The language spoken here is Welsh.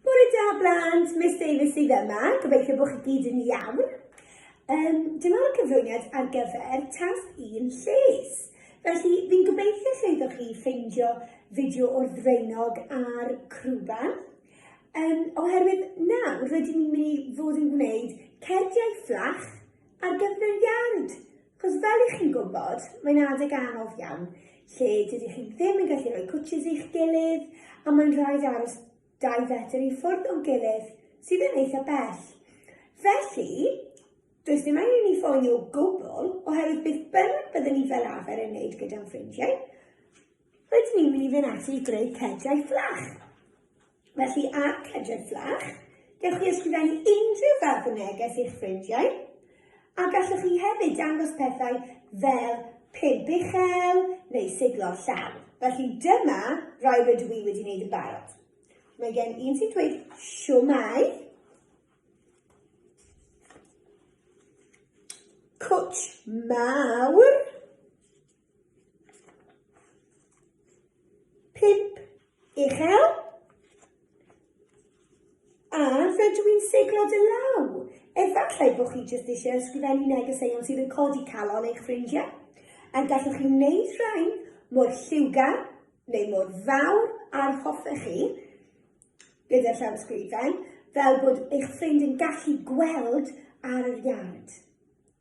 Bore da blant, Miss Davies sydd yma, gobeithio bod chi gyd yn iawn. Um, dyma'r cyflwyniad ar gyfer tas un lles. Felly, fi'n gobeithio llwyddo chi ffeindio fideo o'r ddreinog a'r crwba. Um, oherwydd nawr, rydyn ni'n mynd i fod yn gwneud cerdiau fflach ar gyflwyniad. Cos fel i chi'n gwybod, mae'n adeg anodd iawn, lle dydych chi ddim yn gallu rhoi cwtshys i'ch gilydd, a mae'n rhaid aros dau fetr i ffwrdd o'n gilydd, sydd yn eitha bell. Felly, does dim angen i ni phoeni o gwbl, oherwydd beth bynnag byddwn ni fel arfer yn wneud gyda'n ffrindiau, rydyn ni'n mynd i fynd ati i greu cediau fflach. Felly, ar cedredd fflach, dewch i ysgrifennu unrhyw ferf y neges i'ch ffrindiau, a gallwch chi hefyd dangos pethau fel pump uchel neu siglo llaw. Felly dyma rai rydw i wedi wneud yn barod. Mae gen un sy'n dweud siwmai, cwtsh mawr, Pip uchel. A rydw i'n seglod y law. Efallai bod chi jyst eisiau ysgrifennu negeseuon sydd yn codi calon eich ffrindiau. A gallwch chi wneud rhain mor lliwgar neu mor fawr a'r hoffech chi gyda llawysgrifen, fel bod eich ffrind yn gallu gweld ar yr iard.